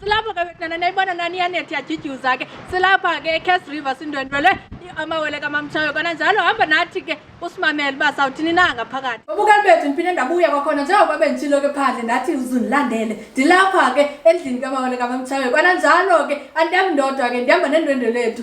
silapho ke wetana nayibona nani iyanethi yajidyuza zakhe silapha ke ecas river sindwendwele amawele kamamtshayo kona njalo hamba nathi ke usimamele uba sawuthini na ngaphakathi ubukani bethu ndiphinde ndabuya kwakhona njengoba benditshilo ke phandle ndathi uzundilandele ndilapha ke endlini kamawele kamamtshayo kona njalo ke andihambindodwa ke ndihamba nendwendwe lethu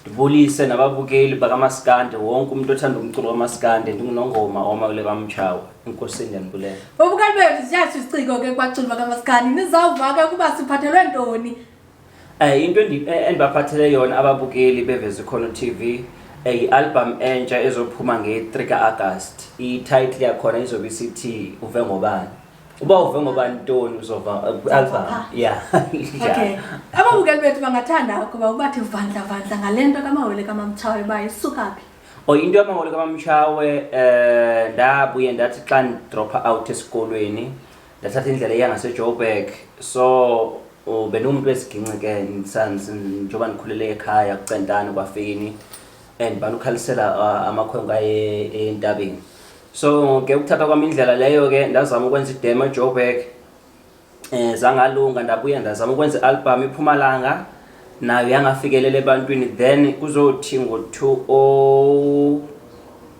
ndibulise nababukeli bakamaskande wonke umntu othanda umculo kamaskande ndingunongoma oma kule kamtshawa enkosini yandibulela babukeli bethu ziyasho isiciko ke kwaculo bakamaskande nizawuvaka ukuba siphathelwe ntoni um into eh, endibaphathele yona ababukeli beveza ikhono t v eh, yi-albham entsha ezophuma nge-3 ka-agasti ititle yakhona izobe isithi uve ngobani uba uve ngoba ntoni uzova uh, album ya okay ababukeli bethu bangathanda ukuba ubathi vandla vandla ngale nto kamawele kamamtshawe uba isuka phi o oh, into yamawele kamamtshawe um eh, ndabuye ndathi xa ndidropha out esikolweni ndathatha indlela eya ngasejoburg so oh, bendingumntu wesiginci ke njengoba ndikhulele ekhaya kucentane kwafini and balukhalisela uh, amakhwenkwe aye entabeni so ke ukuthatha kwam indlela leyo ke ndazama ukwenza idemo ejoburg um eh, zangalunga ndabuya ndazama ukwenza i-album iphumalanga nayo yangafikelele ebantwini then kuzothi ngo-two o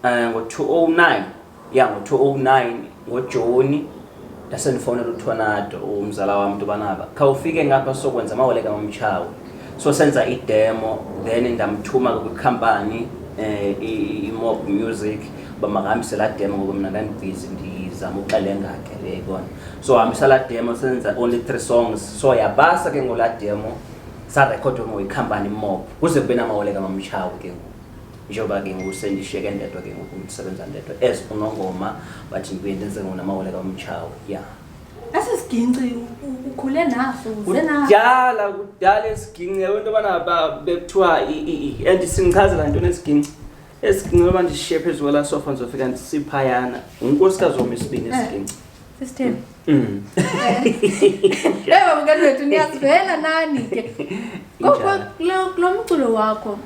um eh, ngo-two o oh nine ya ngo-two o oh nine ngojoni ndasendifowunela uthonado umzala wam into banaba khawufike ngapha sokwenza amaweleka mamtshawe so senza idemo then ndamthuma kwikhampani um imob music uba makahambise laa demo ngoku mna ndandibhizi ndizama uxelenga ke le yayibona so hambisa laa demo senza only three songs so yabasa ke ngolaa demo sarekhodwe ngoyikhampani mob kuze kube namawoleka mamtshawe ke ngoku njengoba ke ngoku sendishiyeke ndedwa ke ngoku ndisebenza ndedwa as unongoma but ndibuye ndenze ngona amawele kamtshawe ya esi siginci ukhule naso uze naso kudala kudala esiginci yabo into yobana bekuthiwa and sindichazela ntoni esiginci esiginci loba ndishiye phezu kwela sofa ndizofika ndisiphayana ngunkosikazi wam isibini eh, esiginci sistem mm. ewe babukeli wethu niyazivela nani ke koko kulo mculo wakho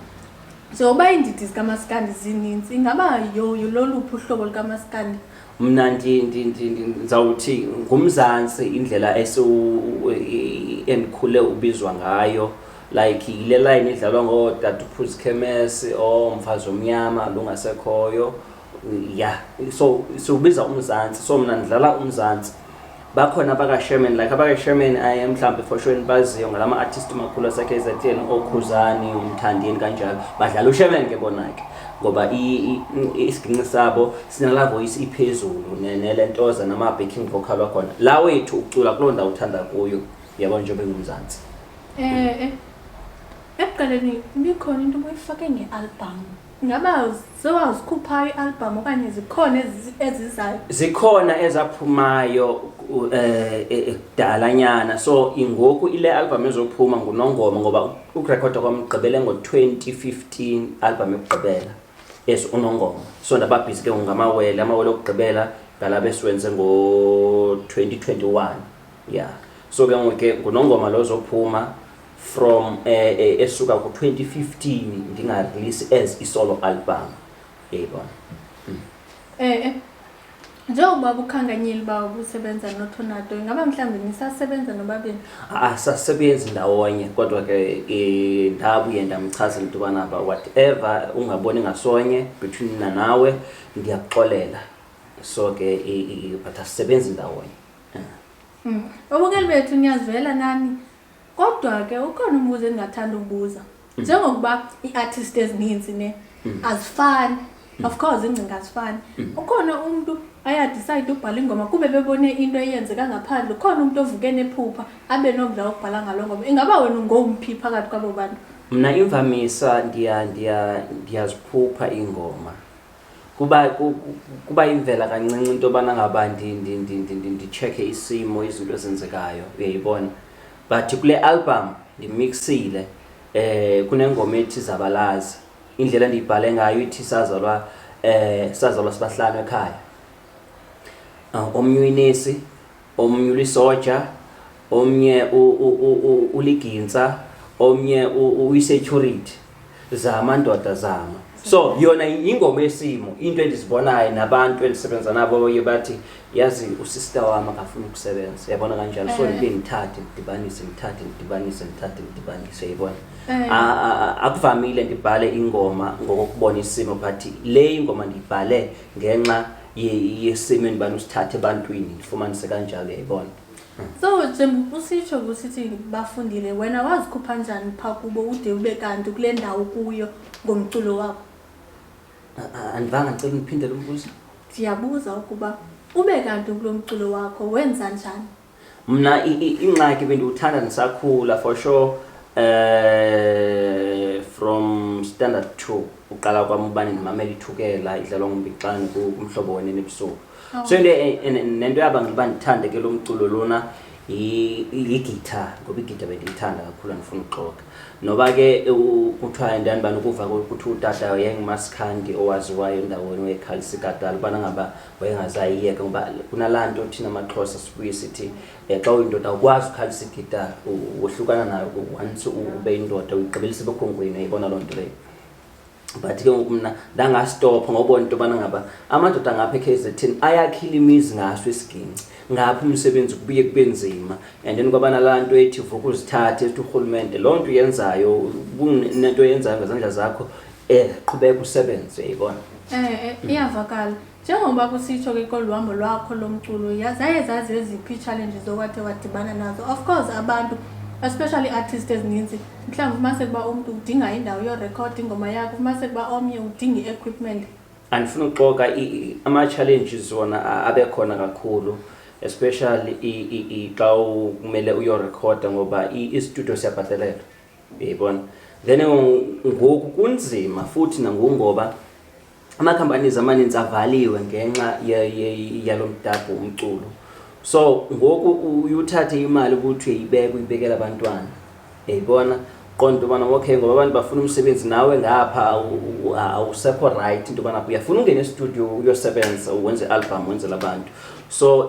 Njengoba iindidi zikamaskandi zininzi, ingaba yoyo loluphi uhlobo lukamaskandi? Mna ndi- ndi- ndi- ndi- ndizawuthi nguMzantsi indlela esiwu- i- endikhule ubizwa ngayo like yile layini idlalwa ngoodade uphuzkhemesi omfazi omnyama lungasekhoyo ya so siwubiza umzantsi so mna ndidlala umzantsi bakhona abakasherman like abakasherman aye mhlawumbi efoshweni baziyo ngala ma-artist makhulu asekhe ezeteni okhuzani umthandini kanjalo badlala usherman ke bona ke ngoba isiginci sabo sinala voice iphezulu nele ntoza nama-backing vocal wakhona la wethu ukucula kuloo ndawo uthanda kuyo yabo njengoba engumzantsi um ekuqaleni ibikhona into obuyifake nge-albhamu ngaba sewazikhupha i-albhamu okanye zikhona ezizayo zikhona ezaphumayo um kudalanyana so ingoku ile albhamu ezophuma ngunongoma ngoba ukurekhoda kwamgqibele ngo-twenty fifteen albhamu yokugqibela as unongoma so ndababhizi ke ngamawele amawele okugqibela ngalaba esiwenze ngo-2021 ya so ke ngoku ke ngunongoma lo zophuma from eh, eh, esuka ku-2015 ndingarelease as isolo album yayibona Eh, eh. njengoba kukhanganyile uba ubusebenza nothonado ingaba mhlawumbi nisasebenza nobabini asasebenzi ndawonye kodwa ke eh, ndabuye ndamchazela into yobana ba whatever ungaboni ngasonye between mna nawe ndiyakuxolela so ke i- i- but asisebenzi ndawonye ubukeli bethu niyazivela nani Kodwa ke ukhona umbuzo endingathanda ubuza. Mm. Njengokuba iiartist ezininzi ne mm. azifani. Mm. Of course ingcinga azifani. Ukhona umuntu ayadicide ubhala ingoma kube bebone into eyenzeka ngaphandle. Ukhona umuntu ovuke nephupha abe nomdla wokubhala ngalo ngoma. Ingaba wena ungomphi phakathi kwabo bantu? Mna imvamisa ndiya ndiya ndiyaziphupha iingoma. kuba kuba yimvela kancinci into yobana ngaba nditshekhe isimo izinto ezenzekayo uyayibona but kule album ndimixile eh kunengoma ethi zabalazi indlela ndiyibhale ngayo ithi sazalwa eh sazalwa sibahlanu ekhaya ah, omnye uyinesi omnye ulisoja omnye uligintsa omnye uyisecurity zama ndoda zama so yona yingoma esimo into endizibonayo nabantu endisebenza nabo baye bathi yazi usister wam akafuni ukusebenza yabona kanjalo so eh. ndike ndithathe ndidibanise ndithathe ndidibanise ndithathe ndidibanise yibona eh. akuvamile ndibhale ingoma ngokokubona isimo but le ingoma ndiyibhale ngenxa yesimo endibani usithathe ebantwini ndifumanise kanjalo yayibona so njengoba usitsho kusithi bafundile wena wazikhupha njani phaa kubo ude ube kanti kule ndawo kuyo ngomculo wakho andivanga ndicela undiphindele umbuzo ndiyabuza ukuba ube kanti kulo mculo wakho wenza njani mna ingxaki bendiwuthanda ndisakhula for sure um from standard two uqala kwam ubane ndimamela ithukela idlalwa ngumbixane kumhlobo wene nebusuku oh. so into e, e, nento yabangela uba ndithande ke lo mculo lona yigitha ngoba igitha bendiyithanda kakhulu andifuna ukuxoka noba ke kuthiwa ndani bani ukuva kuthiwa utata yengumaskhandi owaziwayo endaweni wekhalisigadala ubana ngaba wayengazayiyeka ngoba kuna laa nto thina maxhosa sibuye sithi um xa uyindoda awukwazi ukhalisa igitara wohlukana nayo once ube yindoda uyigqibelisa ebekhongweni ayibona loo nto leyo but ke ngoku mna ndangastopha ngobona into yobana ngaba amadoda ngapha ekh zethini ayakhile imizi ngaso isigingci ngapha umsebenzi kubuye kube nzima and then kwabana laa nto ethi vuka uzithathe ethi urhulumente loo nto yenzayo nento yenzayo ngezandla zakho ena qhubeka usebenze yibona um iyavakala njengoba kusitsho ke kolu hambo lwakho lomculo zaye zazi eziphi ii-challenges okwathe wadibana nazo of course abantu especially artist ezininzi mhlawumbi ufumaniseke uba umntu udinga indawo yorekhod ingoma yakho ufumaniseke uba omnye udinga i-equipment andifuna uxoka ama-challenges wona abekhona kakhulu especially xa kumele uyorekhoda ngoba istudio siyabhatelelwa uyayibona then ngoku kunzima futhi nangoku ngoba ama-companies amaninzi avaliwe ngenxa yalo mdabho umculo so ngoku uyuthathe imali ukuthi uyibeke uyibekela abantwana yayibona qonda into yobana okay ngoba abantu bafuna umsebenzi nawe ngapha awusekho rayithi into yobana uyafuna ungena estudio uyosebenza wenze i-album wenzela abantu so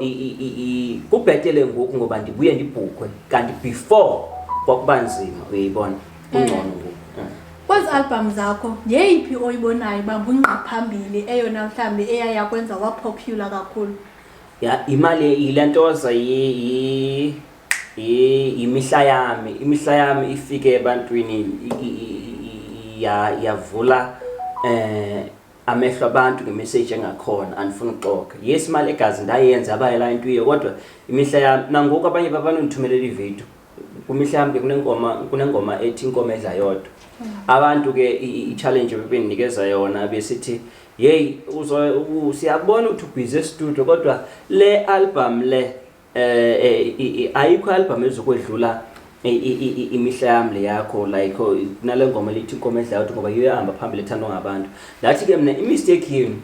kubhetele ngoku ngoba ndibuye ndibhukwe kanti before kwakuba nzima uyayibona kungcono eh. ngoku eh. kwezi albhamu zakho yeyiphi oyibonayo uba ngungqa phambili eyona mhlawumbi eyaya kwenza wapopular kakhulu ya imali yile ntoza yimihla yami imihla yami ifike ebantwini yavula um eh, amehlo abantu ngemeseji engakhona andifuni uxoka yes imali egazi ndayenza abayela intuye kodwa imihla yam nangoku abanye babanondithumelela ividiyo kwimihla yam ke kunengoma kunengoma ethi inkomo edla yodwa hmm. abantu ke i-challenge bebendinikeza yona besithi yeyi siyabona ukuthi ubhizi estudio kodwa le album le eh ayikho album ezokwedlula imihla yam le yakho like oh, nale ngoma lithi inkomo edla uthi ngoba iyohamba phambili ethandwa ngabantu ndathi ke mna imistake yenu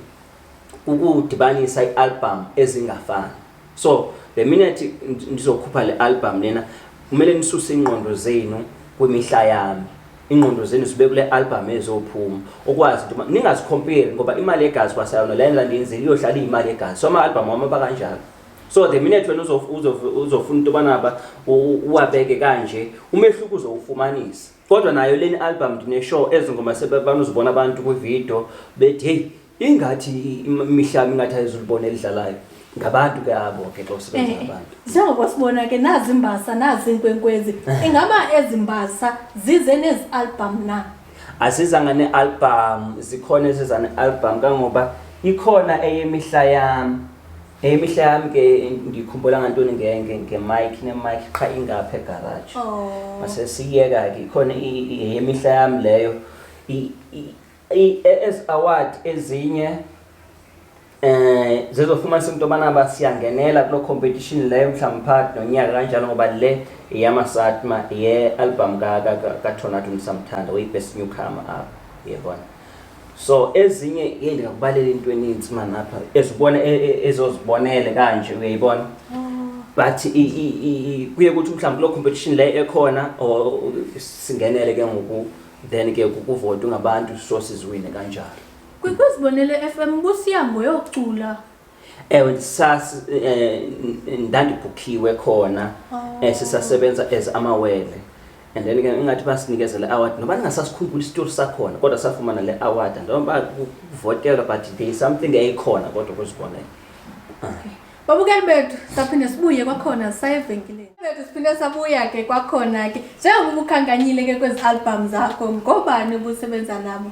ukudibanisa i-album ezingafani so the minute ndizokhupha le album lena kumele nisuse iingqondo zenu kwimihla yami ingqondo zenu zibe kule album ezophuma ukwazi into ningazikhomperi ngoba imali yegazi kwasayona le nto ndiyenzile iyohlala iyimali yegazi so ama-album wam aba kanjalo so the minute wena uzofuna into yobana ba uwabeke kanje umehluko uzowufumanisa kodwa nayo leni album ndineshow ezi ngoma sebanuzibona abantu kwividiyo bethi heyi ingathi imihlaba ingathi ayizulibona elidlalayo ngabantu ke abo ke xa usebenza eh, ngabantu njengoba sibona ke nazi imbasa nazi inkwenkwezi ingaba ezi mbasa zize nezi album na asizanga ne-album zikhona eziza ne-album kangoba ikhona eyemihla yami imihla yam ke ndikhumbula ngantoni ngemike nemike qha ingapha egaraji oh. masesiyeka ke khona yemihla yam leyo ezi award ezinye eh zizofumanisa into yobana ba siyangenela kuloo competition leyo mhlawumbi phakathi nonyaka kanjalo ngoba le yeyamasatma ye-albham kathonatu ndisamthanda oyi-best newcomer apha yebona so ezinye ye ndingakubalela into eninzi mani apha ezibona e, e, ezozibonele kanje uyayibona oh. but kuye kuthi mhlawumbi loo competition leyo ekhona or singenele ke ngoku then ke kukuvota ungabantu so siziwine kanjalo kwikwizibonele f m busiya ngoyocula ewe sas eh, ndandibhukhiwe khona oh. eh, sisasebenza as amawele and then ke ingathi basinikeze le award noba ndingasasikhumbula isitori sakhona kodwa safumana le award ndoba kuvotelwa but there is something eyikhona kodwa kuzibonela babukeli bethu saphinde sibuye kwakhona saye evenkileni bethu siphinde sabuya ke kwakhona ke njengoba ubukhankanyile ke kwezi albham zakho ngobani ubusebenza nabo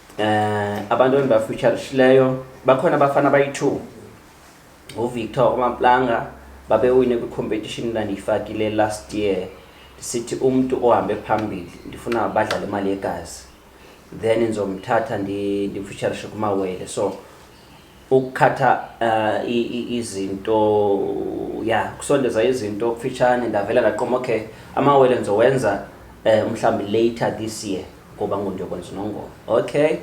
eh abantu endibafutsharishileyo bakhona abafana abayi-two nguvictor omamplanga babewine kwi-competition ndandiyifakile last year ndisithi umntu ohambe phambili ndifuna badlale imali yegazi then ndizomthatha ndimfutsharishe kumawele so ukukhatha uh, izinto ya yeah, kusondeza izinto kufitshane ndavela ndaqoma okay amawele ndizowenza um eh, mhlawumbi later this year ngoba ngundiyokwenza unongoma okay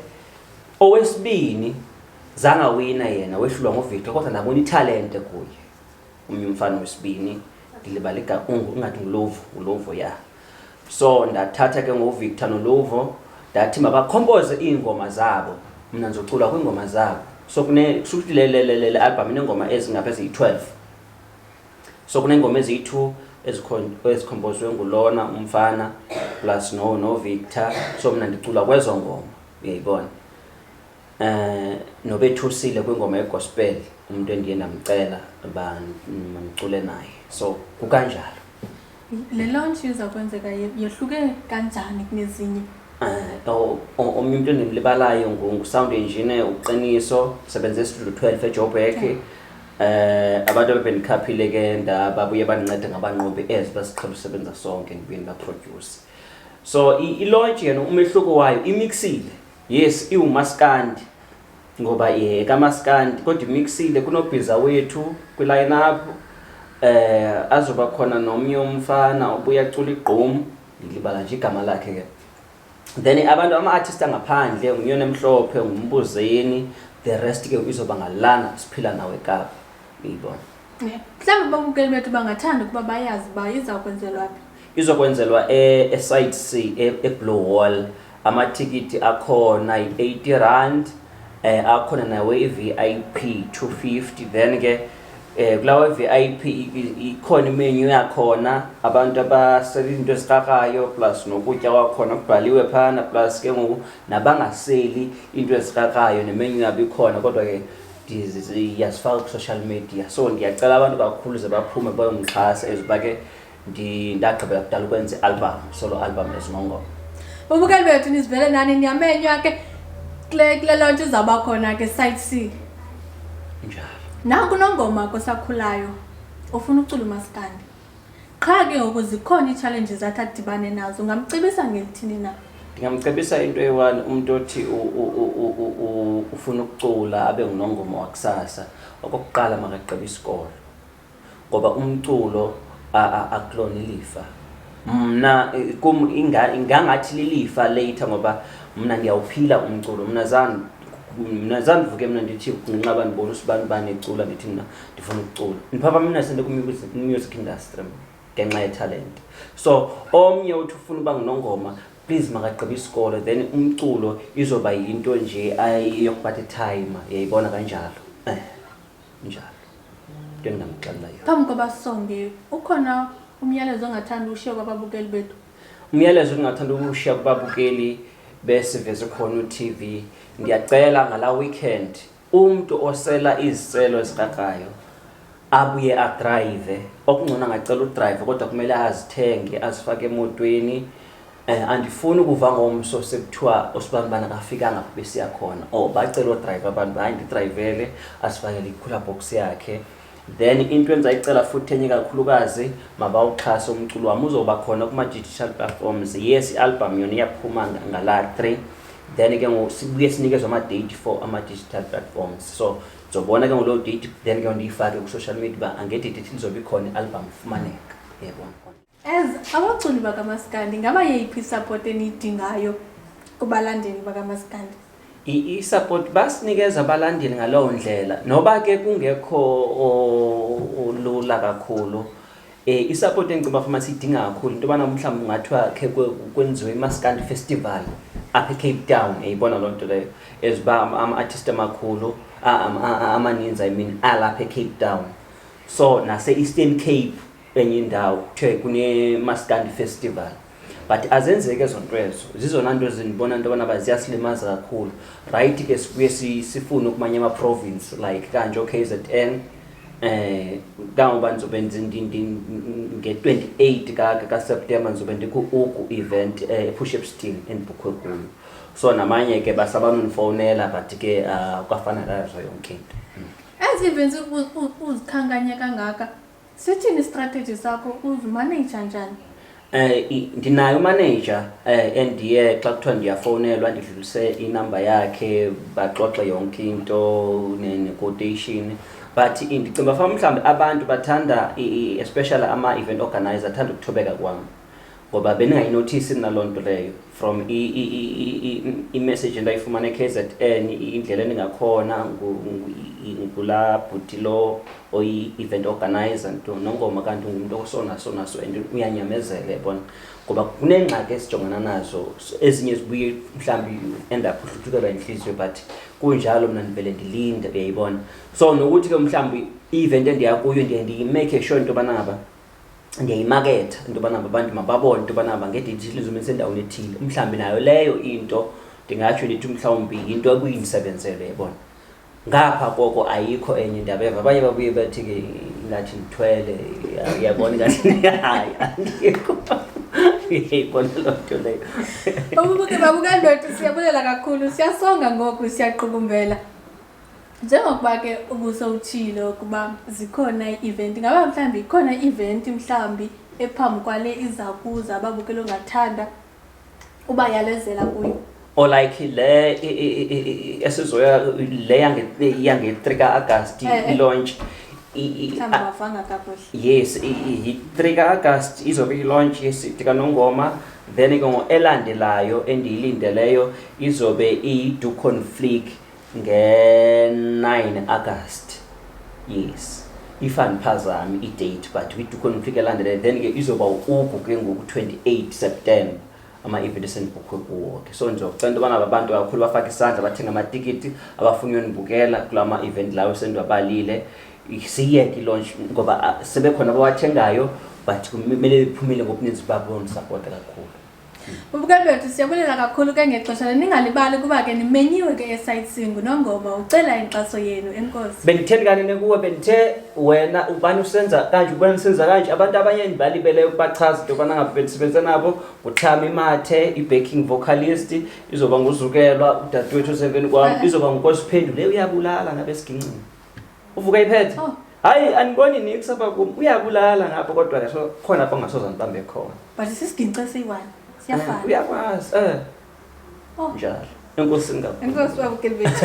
owesibini zangawina yena wehlulwa ngovictor kodwa ndabona italente kuye omnye umfana wesibini ndilibala igaungu ungathi ngulovu ngulovu ya yeah. so ndathatha ke ngovictor noluvo ndathi mabakhompoze iingoma zabo mna ndizocula kwiingoma zabo so kusukuthi le albham ineengoma ezingapha eziyi-12 so kuneengoma eziyi-two ezikhompozwe ngulona umfana plus novictor no so mna ndicula kwezo ngoma uyayibona Eh nobethusile kwingoma yegospel umuntu endiye ndamcela uba mandicule naye. So kukanjalo. Le launch iza kwenzeka ye- yehluke kanjani kunezinye? Eh o- o- omnye umuntu endimlibalayo ngu- ngu-sound engineer uqiniso usebenza estudio 12 ejoburg eh abantu abebendikhaphile ke ndababuye bandincede ngabanqobi as basiqhela usebenza sonke ndibuye ndibaproduce so i- ilaunch yena umehluko wayo imixile yes iwumaskandi ngoba ye kamaskandi kodwa imixile kunobhiza wethu kwiline up eh azoba khona nomnye umfana obuya cula igqom ndilibala nje igama lakhe ke then abantu ama-artist angaphandle ngunyona emhlophe ngumbuzeni the rest ke izoba ngalana siphila nawe kapa uyibona mhlawumbi babukeli bethu bangathanda ukuba bayazi uba iza kwenzelwa phi izokwenzelwa e, eside c e, eblue wall amatikiti akhona yi-80 rand um akhona nawe i-vip 250 then ke um kulawa v i p ikhona imenyu yakhona abantu abasela izinto ezikrakrayo plus nokutya kwakhona kubhaliwe phana plus ke ngoku nabangaseli iinto ezikrakrayo nemenyu yabo ikhona kodwa ke ndiyazifaka kwi-social media so ndiyacela abantu bakhuluze baphume bayomxhasa as uba ke ndagqibela kudala ukwenza i-album solo album ezingongoma babukeli bethu nizivele nani ndiyamenywa ke kule kule loo nto izawuba khona ke site c njalo naku nongoma kosakhulayo ufuna ucula umaskandi qha ke ngoku zikhona ii-challenges athi adibane nazo ungamcebisa ngelithini na ndingamcebisa into eyi-one umntu othi ufuna ukucula abe ngunongoma wakusasa okokuqala makagqiba isikolo ngoba umculo akulona ilifa mna kum ingangathi lilifa leyitha ngoba mna ndiyawuphila umculo mna zange mna zandivuke mna ndithi ngenxa bandibona usibani bani ecula ndithi mna ndifuna ukucula ndiphaphamnase ndikumusic industry ngenxa yetalente so omnye uthi ufuna uba ngunongoma please makagqiba isikolo then umculo izoba yinto nje yokubatha itime yayibona kanjalo eh njalo into endingamxelela yona phambi koba songe ukhona umyalezo ongathanda ushiye kwababukeli bethu umyalezo endingathanda ukushiya kubabukeli besiveze khona utv ndiyacela ngala weekend umntu osela iziselo ezikakayo abuye adrayive okungcono angacela udrayive kodwa kumele azithenge azifake emotweni um andifuni ukuva ngomso sekuthiwa osibani bana kafikanga besiya khona or oh, bacela odrayive abantu hayi ndidrayivele asifakele ikhula box yakhe um then into endizayicela futhi enye kakhulukazi mabawuxhase umculo wam uzoba khona kuma-digital platforms yes i-albham yona iyaphuma ngala three then ke ngoku sibuye sinikezwe ama-date for ama-digital platforms so ndizobona ke ngoloo date then ke ndiyifake kwi-social media uba angedidithini zobe ikhona i-albham ifumaneka yebona As abaculi bakamaskandi ngaba yeyiphi isupport eniyidingayo kubalandeli bakamaskandi? I-support basinikeza abalandeli ngalowo ndlela noba ke kungekho olula kakhulu eh isupport engicela bafuma sidinga kakhulu into bana mhlawumbe ungathiwa ke kwenziwe imaskandi festival apha ecape town eyibona loo nto leyo eziba ama-artist amakhulu amaninzi i mean alapha ecape town so nase-eastern cape enye indawo kuthiwe kunemaskandi festival but azenzeki ezo nto ezo zizona nto ezindibona into yobana ba ziyasilimaza kakhulu rayithi ke sibuye sifune ukumanye amaprovince like kanje o-k z n eh kangoba ndizobe nge-twenty eight kaseptemba ndizobe ndiku-uku event um eh, epush epsting endibukhwe kuyo so namanye ke basabanondifowunela but ke ah, kwafana kazo yonke into ezi events uzikhankanya kangaka Sithini istrategy zakho uzimaneja njani? Eh i- ndinayo manager eh endiye xa kuthiwa ndiyafowunelwa ndidlulise inamba yakhe baxoxe yonke into ne- ne-quotation but i- ndicinga uba fa mhlawumbi abantu bathanda i- i- especially ama-event organizer athanda ukuthobeka kwam ngoba bendingayinothisi mna loo nto leyo from imessage endayifumana e-k z n indlela endingakhona ngulaa bhuti lo oyi-event organizer nto nongoma kanti ungumntu osonaso naso and uyanyamezele bona ngoba kuneengxaki esijongana nazo ezinye zibuye mhlawumbi end up uhluthukelwa yintliziyo but kunjalo mna ndivele ndilinde uyayibona so nokuthi ke mhlawumbi i-event endiya kuyo ndiye ndiyimake sure into yobana ngaba ndiyayimaketha into yobana abantu mababone into yobana bangedidishile izumi esendaweni ethile mhlawumbi nayo leyo into ndingatsho ndithi mhlawumbi yinto ekuyindisebenzele yebona ngapha koko ayikho enye ndaba eva abanye babuye bathi ke ingathi ndithwele uyabona ingathi hayi andikho yayibona loo nto leyo ubuke babukandoda siyabulela kakhulu siyasonga ngoku siyaqukumbela njengokuba ke ubusowutshile ukuba zikhona ii-event ngaba mhlawumbi ikhona i-event mhlawumbi ephambi kwale iza kuza ababukeli ongathanda uba yalezela kuyo or like le i- i- i- i- esizoya le yange- yange-three ka-agast Eh, eh. ilaunch I- i- mhlawumbi a- bavanga kakuhle yes i- i- yi-three ka-agast izobe ilaunch yesiti kanongoma then ke ngo elandelayo endiyilindeleyo izobe iyi-ducon flick nge-9 agasti yes if andiphazami idate but we do config elandele then ke izoba uku ke ngoku 28 september ama-event esendibhukhwe kuwo ke so ndizocela into yobana abantu kakhulu bafake isandla bathenga amatikiti abafuni uyondibukela kula ma-event lawo esendiwabalile siyeke ilonch ngoba ah, sebekhona abawathengayo but kumele bephumile ngobuninzi babo ndisapota kakhulu Ubukabethu siyabulela kakhulu ke ngexesha le ningalibali kuba ke nimenyiwe ke esightseeing nongoma ucela inkxaso yenu enkosi benditheni kanene kuwe bendithe wena ubani usenza kanje ubani usenza kanje abantu abanye endibalibeleyo ukubachaza into yobana ngaba bendisebenze nabo nguthami mathe i-backing vocalist izoba nguzukelwa udadewethu osemveni kwam Ala. izoba ngukosiphendule uyabulala ngabe esigingcini uvuka iphethe Oh. hayi andiboni nix apha kum uyabulala ngapha kodwa ke so khona apho ngasoza ndibambe khona but sisigince siyi-one Eh, siyafana uyakwazi eh Oh. njalo enkosi ngabo enkosi wabukeli bethu